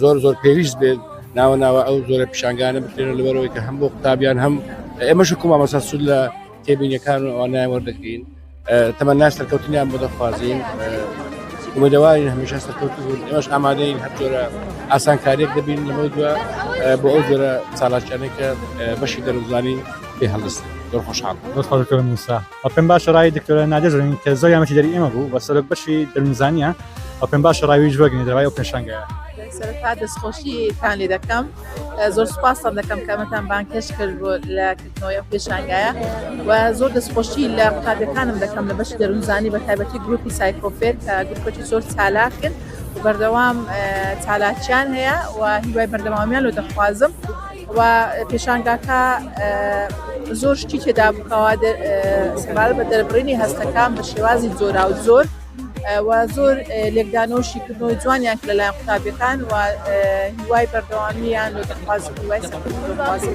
زۆر زۆر پێویست بێت ناوە ناوە ئەو زۆرە پیشانگانە بکرێن لەبەرەوەی کە هەم بۆ قوتابیان هەم ئێمەش کومامەسا سود لە تێبینەکان و ئەوانای وەردەگرین تەمە ناس سەرکەوتنیان بۆ دەخوازیین ومەدەوارین هەمیشە سەرکەوت بوون ئێمەش ئامادەین هەر جۆرە ئاسانکاریێک دەبین لەمە دووە بۆ ئەو جۆرە چالاکیانێکە بەشی دەرزانانی پێ هەڵست زۆر خۆشحاڵ خۆشکەم موسا ئەو پێم باشە ڕای دکتۆرە نادێ زرنگ کە زۆر یامەتی دەری ئێمە بوو بە سەرۆک بەشی دەرونزانیە ئەو پێم باشە ڕاویش وەرگنی دەوای ئەو پێشانگەیە سەرتا دەستخۆشیتان لێ دەکەم زۆر سوپاستان دەکەم کەمەتان بانکێش کرد بۆ لە کردنەوەی پێشانگایە و زۆر دەستخۆشی لە قوتابەکانم دەکەم لە بەشی دەرونزانی بە تایبەتی گروپی سایکۆفێر کە گروپەتی زۆر چالاکن و بەردەوام چالاکیان هەیە و هیوای بەردەوامیان لۆ دەخوازم و پێشانگاکە زۆر شتی تێدا بکەوە سەبارەت بە دەربڕینی هەستەکان بە شێوازی جۆرا و زۆر و زۆر لێکدانەوە شیکردنەوەی جوانیان کە لەلایەن قوتابیەکان و هیوای بەردەوامیان لۆ دەخوازم هیوای سەرکەوتن لۆ دەخوازم.